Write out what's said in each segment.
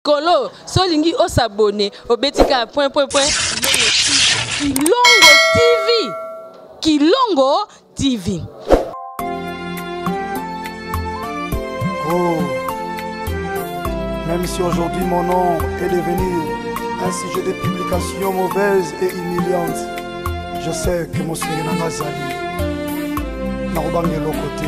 kolo so olingi osabone obeti kaka point point point kilongo tv kilongo tv oh. Même si aujourd'hui mon nom est devenu un sujet de publication mauvaise et humiliante, je sais que mon Seigneur Nazali, Narobangelo côté.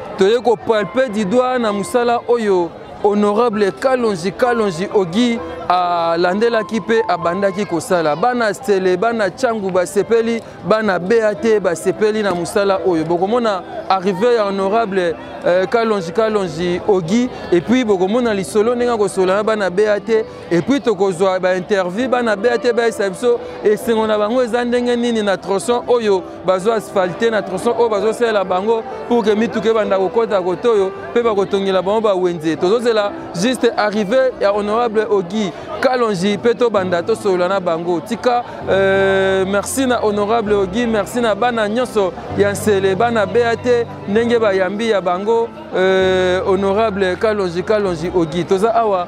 toye ko palper du doigt na musala oyo honorable kalonji kalonji ogi alandelaki mpe abandaki kosala bana stele bana changu basepeli bana bat basepeli na mosala oyo bokomona arrive ya honorable euh, kalonji kalonji ogi epuis bokomona lisolo ndenge akosola na bana bat epuis tokozwa bainterview bana bat bayesa biso esengo na bango eza ndenge nini na tronçon oyo bazo asphalte na tronçon oyo bazosalela bango pour que mituka ebanda kokota kote oyo mpe bakotongela bango bawenze tozozela juste arrivé ya honorable ogi kalonji mpe tobanda tosolola na bango tika euh, merci na honorable ogi merci na bana nyonso ya nsele bana bea te ndenge bayambi ya bango euh, honorable kalonji kalonji ogi toza awa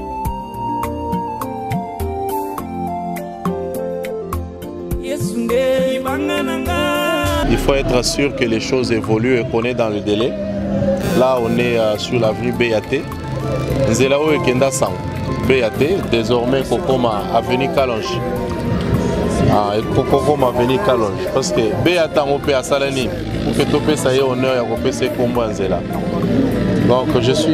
Il faut être sûr que les choses évoluent et qu'on est dans le délai. Là, on est euh, sur l'avenue BAT. Nzela oyo ekenda sango BAT désormais kokoma avenue Kalonge. Ah, kokoma avenue Kalonge parce que BAT yango mpe asala nini mpe topesa ye honneur ya kopesa ekombo ya nzela. Donc je suis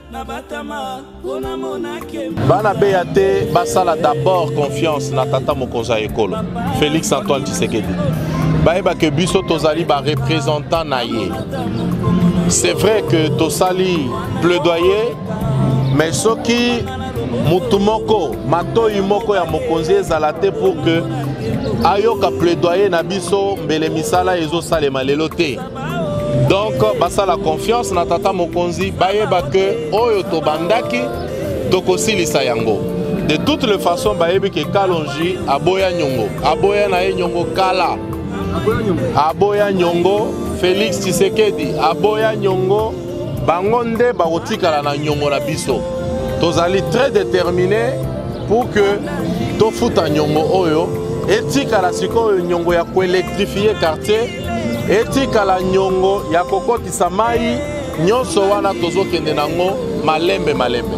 bana beya te basala d'abord confiance na tata mokonzi ya ekolo félix antoine tshisekedi bayeba ke biso tozali barepresentant na ye c'est vrai que tosali plaidoyer mais soki motu moko matoi moko ya mokonzi ezala te pour que ayoka plaidoyer na biso mbele misala ezosalema lelo te donc basala confiance na tata mokonzi bayeba ke oyo tobandaki tokosilisa yango de toutes les façons bayebi ke kalonji aboya nyongo aboya na ye nyongo kala aboya nyongo félix tshisekedi aboya nyongo bango nde bakotikala na nyongo na biso tozali très déterminé pour que tofuta nyongo oyo etikala sikoyo nyongo ya koelektrifie quartier etikala nyongo ya kokotisa mai nyonso wana tozokende nango malembe malembe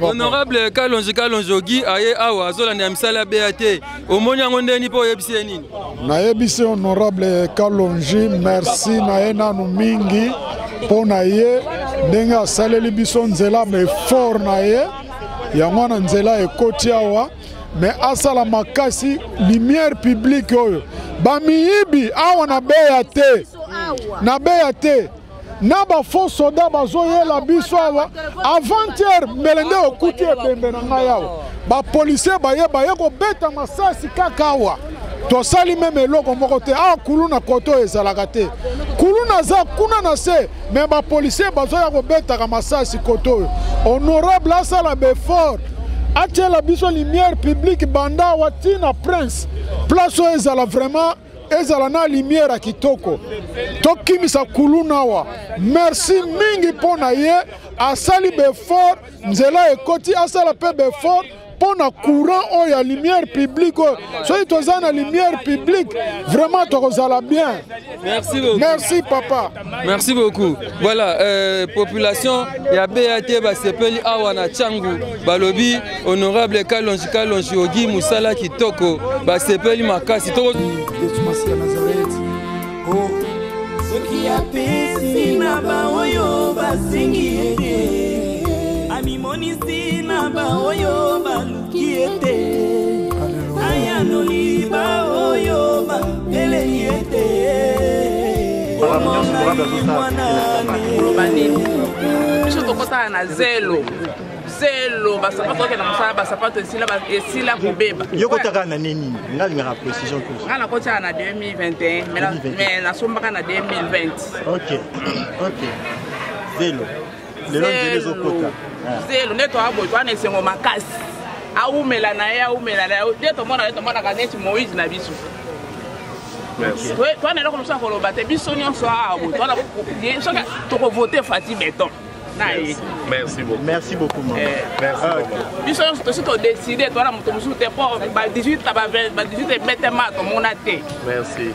honorable kalonji kalonji ogi aye awa azolanda ya misala ya bea te omoni yango ndeni mpo oyebisi ye nini nayebisi honorable kalonji merci na ye nanu mingi mpo na ye ndenge asaleli biso nzela ma effort na ye yango wana nzela ekoti awa me asala makasi lumière publique oyo bamiyibi awa na beya te na beya te na ba faux soda bazoyela biso awa avant-hier mbele nde okuti ebembe na ngai awa bapolisier baye baye kobeta masasi kaka awa tosali meme eloko moko te awa ah, kulu na kote oyo ezalaka te kulu naza kuna na se me bapolisier bazoya kobetaka masasi kote oyo honorable asala befort atyela biso lumière publique banda awa ntina prince place oyo ezala vraiment ezala na lumière ya kitoko tokimisa kuluna awa merci mingi mpo na ye asali befort nzela ekoti asala mpe befort mpo na courant oyo ya lumière publique oyo soki toza na lumière publique vraiment tokozala bien merci, merci papa Merci beaucoup. Voilà, euh, population ya BAT basepeli awa na Changu balobi honorable Kalonji Kalonji Ogi musala kitoko basepeli makasi toko Yesu Masiya Nazareth. Oh. Soki apesi na baoyo basengi ye te, amimonisi na baoyo balu kiete ayanoli baoyo bambeleli ete oloba nini biso tokosala na zelo zelo basapato okende na mosala basapato esila kobeba yo kotaka na nini nga lingaka précision plus nga nakotiaka na 2021 mais nasombaka na 2020 ok ok zelo lelo nzela ezokota zelo nde toya boye toya na esengo makasi awumela na ye awumela na ye nde tomona ye tomonaka neti moïse na biso toya na eloko mosusu ya koloba te biso nyonso awa boye soki tokovote fati beton na ye merci beaucoup merci beaucoup maman eh. merci ah, maman biso nyonso tosi to décider towana moto mosusu te mpo ba 18 ba 18 ebetema tomona te merci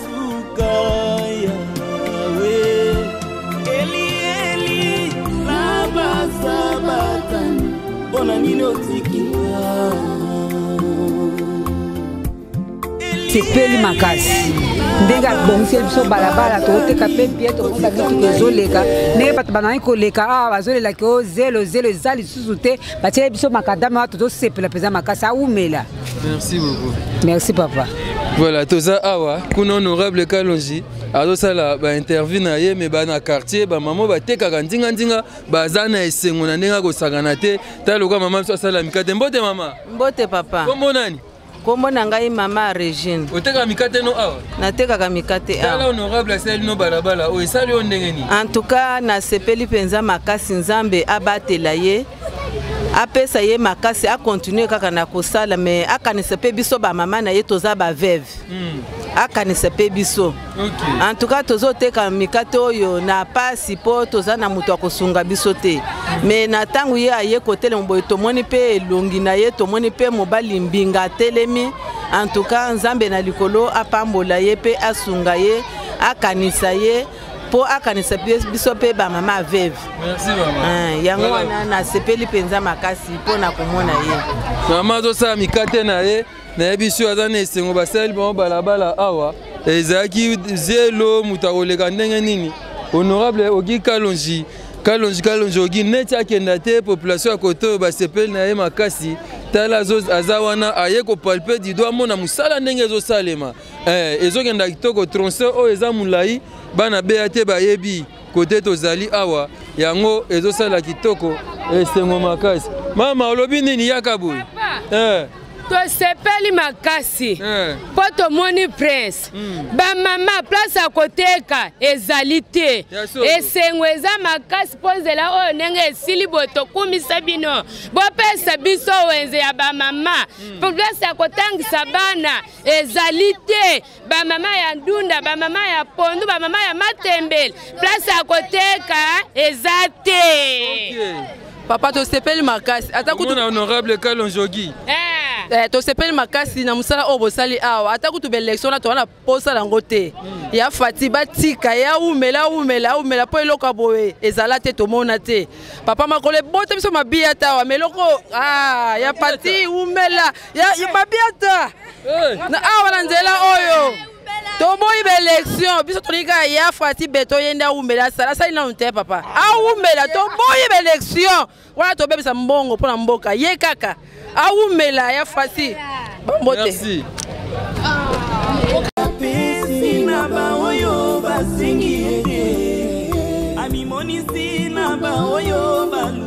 sepeli makasi ndenge abongiseli biso balabala tokoteka mpe bie tokosa mituka ezoleka ndenge bato banangi koleka awa bazolelaki o zelo zelo eza lisusu te batieli biso makadame wana tozosepela mpenza makasi awumela Merci beaucoup. Merci papa. Voilà, toza awa kuna honorable Kalonji azosala ba interview na ye me bana quartier ba maman batekaka nzinga nzinga baza na esengo na ndenge akosakana te ta lokola mama biso asala mikate mbote mama mbote papa kombo nani kombo na ngai mama regine otekaka mikate no awa natekaka mikate awa honorable asali no balabala oyo esali yo ndenge nini en tout cas nasepeli mpenza makasi nzambe abatela ye apesa ye makasi akontinue kaka na kosala me akanisa mpe biso bamama na ye toza baveve hmm. akanisa mpe biso en tout cas tozoteka mikate oyo na pasi mpo toza na moto ya kosunga biso te hmm. me na ntango ye aye kotelema boye tomoni mpe elongi na ye tomoni mpe mobali mbinga atelemi en tout cas nzambe na likolo apambola ye mpe asunga ye akanisa ye mpo akanisa biso mpe bamama aveve eh, yango wana nasepeli mpenza makasi mpo na komona ye mama azosala mikate na ye nayebi sio aza na esengo basaleli bango balabala awa ezalaki zelo moto akoleka ndenge nini honorable ogi kalonji kalonji kalonji ogi neti akenda te population ya kote oyo basepeli na ye makasi tala aza wana aye kopalpe dido amona mosala ndenge ezosalema eh, ezokenda kitoko tronse oyo eza molai bana beya te bayebi kote tozali awa yango ezosala kitoko esengo makasi mama olobi nini yaka boye eh. tosepeli makasi eh. mpo eh. tomoni prince mm. bamama place ya koteka ezali te esengo eza makasi mpo nzela oyo ndenge esili boye tokumisa bino bopesa biso wenze ya bamama mm. place ya kotangisa bana ezali te bamama ya ndunda bamama ya pondu bamama ya matembele place ya koteka eza te okay. papa tosepeli makasi ata kutu honorable kalonjogi eh. Eh, tosepeli makasi na mosala oyo bosali awa ata kutu baelektio na towana mposa yango te hmm. ya fati batika ya umela aumela aumela mpo eloko ya boye ezala te tomona te papa makolo ebota biso mabiya tawa ma eloko ah, ya fati umela ya mabiata na awa na nzela oyo toboyi baelektio biso tolingi kaka ya fati beto ye nde awumbela asala asali nanu te papa awumbela toboyi baelektio wana tobebisa mbongo mpo na mboka ye kaka awumbela ya fati bambote na baoyo basengi ye te amimonisi na baoyo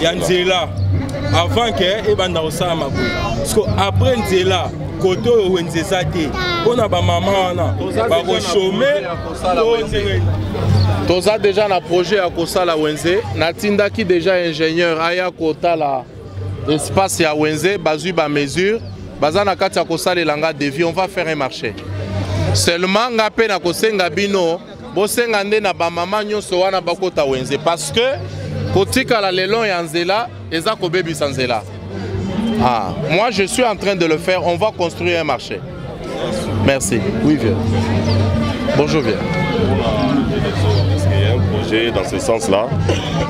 ya nzela avant ke ebanda kosalama boye parceke après nzela kote oyo wenze eza te mpo na bamama wana bakoshome toza deja na projet ya kosala wenze natindaki deja ingénieur aya kotala espace ya wenze bazwi bamesure baza na kati ya kosalela nga devis on va faire un marché seulement nga mpe nakosenga bino bosenga nde na bamama nyonso wana bakota wenze parce que kotikala lelo ya nzela eza kobebisa nzela ah, moi je suis en train de le faire on va construire un marché merci oui vieux bonjour vieux projet dans ce sens là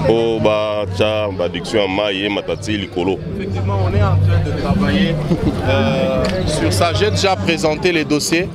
mpo batya baduction ya mai ye matati likolo effectivement on est en train de travailler euh, sur ça j'ai déjà présenté les dossiers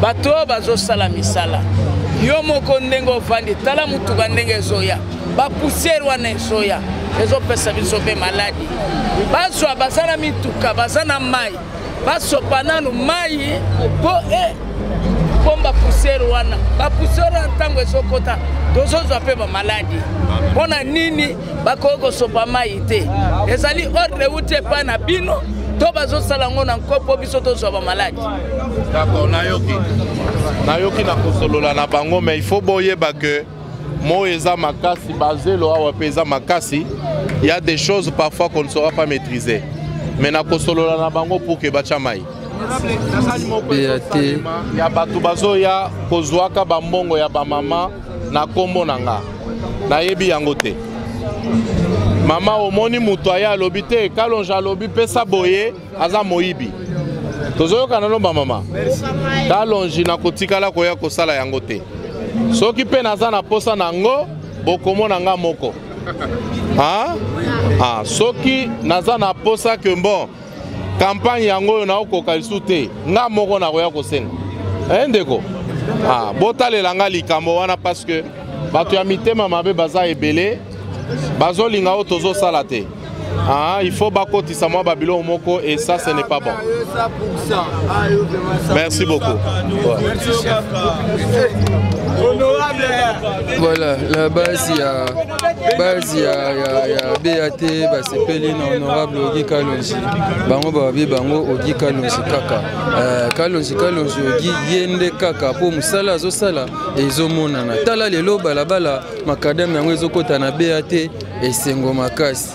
bato oyo bazosala misala yo moko ndenge ovandi tala motuka ndenge ezoya bapusiere wana ezoya ezopesa biso mpe maladi bazwa baza na mituka baza na mai basopa nanu mai mpo e pomba pusiere wana bapusiere wana ntango ezokota tozozwa mpe bamaladi mpo na nini bakoki kosopa mai te ezali ordre euti epai na bino to bazosala yango na nko mpo biso tozwa bamaladi d'accord nayoki nayoki na kosolola na bango mais il faut boyeba que moi eza makasi bazelo awa mpe eza makasi il y a des choses parfois qu'on ne saura pas maîtriser mais na kosolola na bango pour que batya mai ya bato bazoya kozwaka bambongo ya bamama na kombo na nga nayebi yango te mama omoni moto aye alobi te kalonge alobi pesa boye aza moyibi tozoyokana no bamama kalonge nakotikala koya kosala yango te soki mpe naza na mposa na yango bokomona nga moko ah? Ah, soki naza na mposa ke bon kampanye yango oyo naokoka lisusu te nga moko nakoya kosenga e ndeko ah, botalela nga likambo wana parce que bato ya mitema mabe baza ebele bazolinga oyo tozosala te Ah, il faut bakotisa mwa babiloko moko et ça ce n'est pas bon merci beaucoup voilà la base ya base ya, ya, ya bat basepeli na honorable ogi kalonzi bango babi bango ogi kalonzi kaka eh, kalonzi kalonzi ogi ye nde kaka mpo mosala azosala ezomonana tala lelo balabala makadame yango ezokɔta na bat esengo makasi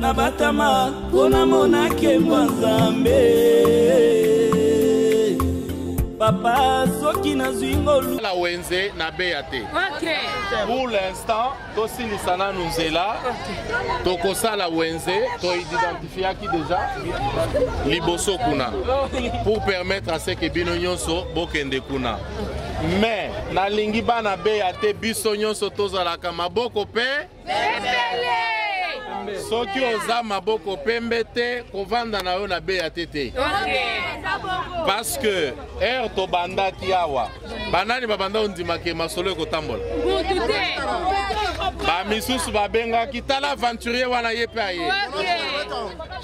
na batama mpo namona nkembo ya nzambe papa soki nazwi ngolu la wenze na beya te okay. pour l'instant tosilisa nanu nzela okay. tokosala wenze toidentifiaki deja liboso kuna pour permettre à ce que bino nyonso bokende kuna mais nalingi bana beya te biso nyonso tozalaka maboko mpe soki oza maboko pembe te kovanda na yo na beya te te parce que heure tobandaki awa banani babanda ondimaka masolo ekotambola bamisusu babengaki tala aventurier wana ye mpe aye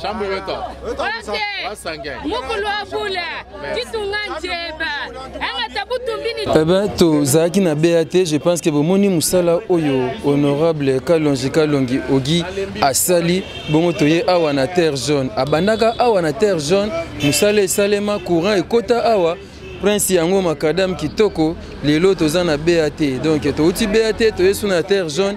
chambre weto wasangai Eh ben, tozalaki na bea te je pense que bomoni mosala oyo honorable kalongi kalongi ogi asali bongo toye awa na terre jaune abandaka awa na terre jaune mosala esalema courant ekota awa prince yango makadame kitoko lelo toza na bea te donc touti bea te toye su na terre jaune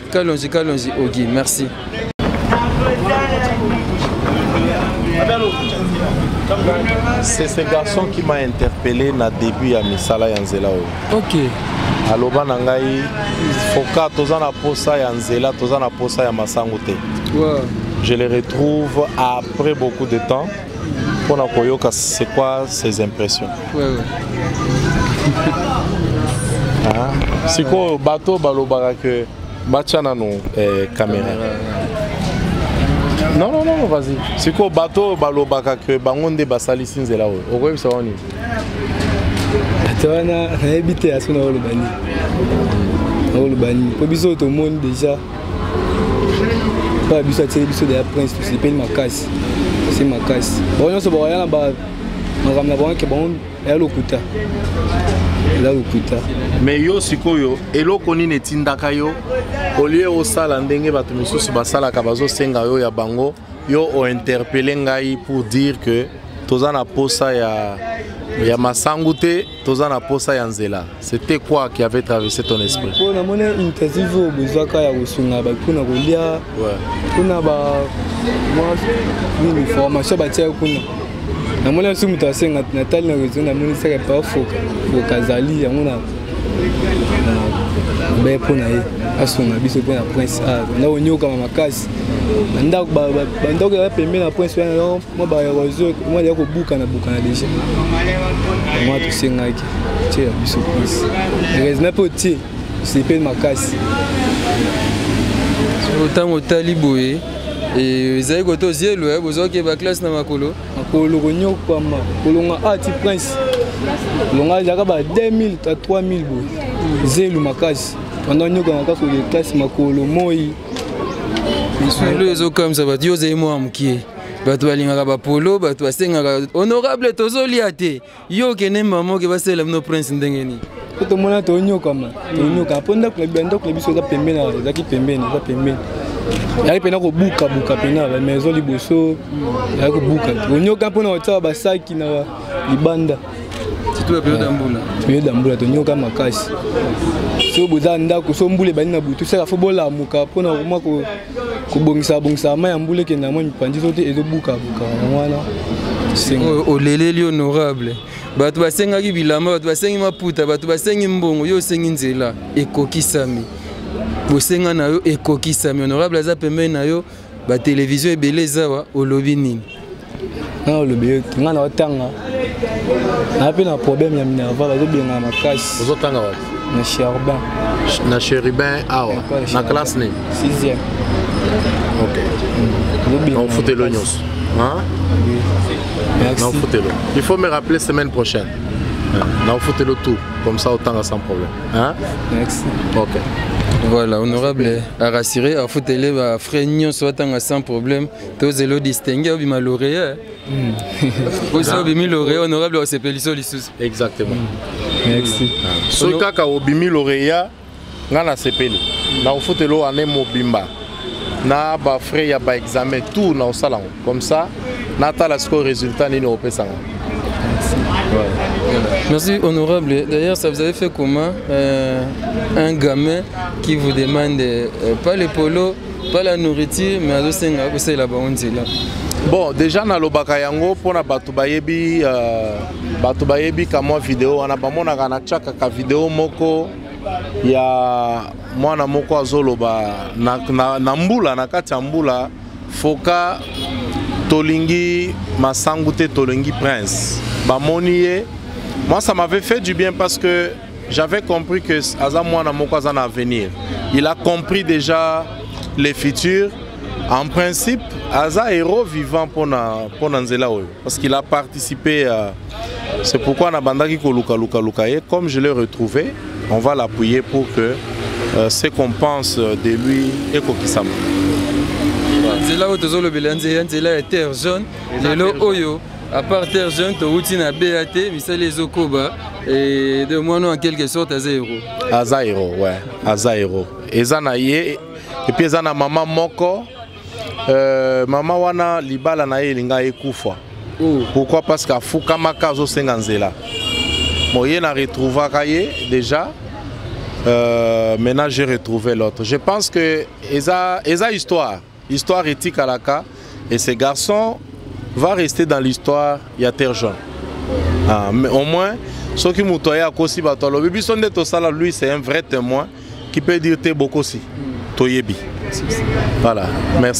Kalonji Kalonji Ogi, merci. C'est ce garçon qui m'a interpellé na début ya misala ya nzela oyo. OK. aloba na ngai foka toza na posa ya nzela toza na posa ya masango te wow. je le retrouve après beaucoup de temps mpo na koyoka c'est quoi ces impressions ouais, ouais. ah, sikoyo bato balobaka ke batya nano eh, kamera non non non vas-y sikoyo bato oyo balobaka ke bango nde basalisi nzela oyo okoyebisa bango nini bato wana nayebi te ya so naoloba nini naoloba nini mpo biso tomoni déjà papa biso atyeli biso deya prince tosepeli makasi se makasi bango nyonso bakoya na makambo na bango ke bango eya lokuta eza lokuta mais yo sikoyo eloko nini etindaka yo olie osala ndenge bato mosusu basalaka bazosenga yo ya bango yo ointerpele ngai pour dire que toza na posa ya, ya masangu te toza na posa ya nzela c'était quoi qui avait traversé ton esprit mpo namoni interview oyo bozwaka ya kosunga bato mpona kolia mpona ba nini formation batiaki kuna namoni asu moto asenga natali na réseau namoni saka pa foka azali yango na be mpo na ye asunga biso mpo na prince a na konyokama makasi bandako ya bapembe na prince wana mwa baerosion mwa ya kobukana bukana deja mwa tosengaki tie ya biso plus heureusement mpe otie osepeli makasi ntango otali boye ezali kote ozielo eh, bozwaki ye baklasse na makolo makolo konyokwama kolonga ati ah, prince longa ezalaka ba 2000 ta 3000 boye zelu makasi wana onyokanga kaka koye classe makolo moi lisolo ezokamisa bato yo ozali mwa mokie bato balingaka bapolo bato basengaka honorable tozolia te yo okende mama oke basalela bino prince ndenge nini po tomona tonyokama tonyokama mpo ndako na ndako na biso eza pembeni ezalaki pembeni eza pembeni yaki mpena kobukabuka mpena bamaison liboso yaki kobuka onyoka mpona kotia basaki na libanda periode ya mbula tonyoka makasi so boza ndako so mbula ebandi na butu saka fo bolamuka mpona komwa kobongisa bongisa mai ya mbula ekende yango mipanzi to te ezobukabuka yango wana oleleli honorable bato basengaki bilamba bato basengi maputa bato basengi mbongo yo osengi nzela ekokisami bosenga na yo ekokisami honorable aza pembeni na yo batelevizio ebele ezawa olobi nini nao lobi ete ngai naotanga naa mpe na problème ya minerva bazobengana makasi ozotanga wapi na cherubin na cherubin awa na classe nini sixième ok naofutelo nyonso naofutelo il faut me rappeler semaine prochaine naofutelo tout comme ça otanga sans problème hein? merci ok voilà honorable arassuré afutele bafrais nyonso atanga sans problème tozela odistingue obima lauréat hmm. osi obimi lauréat honorable osepeliso lisusu exactement merci ah. soki kaka obimi lauréat ngai nasepeli nakofutela oyo ane mobimba na bafrais ya baexamen tout naosala yango comme ça natala sikoyo résultat nini okopesa ngai Merci honorable. D'ailleurs, ça vous avait fait comment euh, un gamin qui vous demande euh, pas les polos pas la nourriture mais azosenga kosalela bango nzela bon déjà nalobaka yango mpo na bato bayebi euh, bato bayebi kamwa video wana bamonaka natyaka ka video moko ya mwana moko azoloba na, na, na mbula na kati ya mbula foka tolingi masangu te tolingi prince bamoni ye moi ça m'avait fait du bien parce que J'avais compris que aza mwana moko aza na avenir. Il a compris déjà les futurs. En principe, aza héros vivant pour na pour na nzela oyo parce qu'il a participé à c'est pourquoi na bandaki ko luka luka luka ye comme je l'ai retrouvé, on va l'appuyer pour que euh, ce qu'on pense de lui et kokisama. nzela oyo tozolobela nzela ya terre jaune lelo oyo à part terre jeune towuti na ba te misali ezokoba et de moi en quelque sorte aza héros aza héros ouais aza héros eza na ye epuis eza na mama moko euh, mama wana libala na ye elinga ekufa oh. pourquoi parce que afukamaka azosenga nzela bon ye na retrouvaka ye déjà euh, maintenant j'ai retrouvé l'autre je pense que eza eza histoire Histoire etikalaka et ce garçon va rester dans l'histoire ya Terre Jaune. Ah, mais au moins soki moto aye akosi bato alobi biso nde tosala lui c'est un vrai témoin qui peut dire te bokosi toyebi voilà merci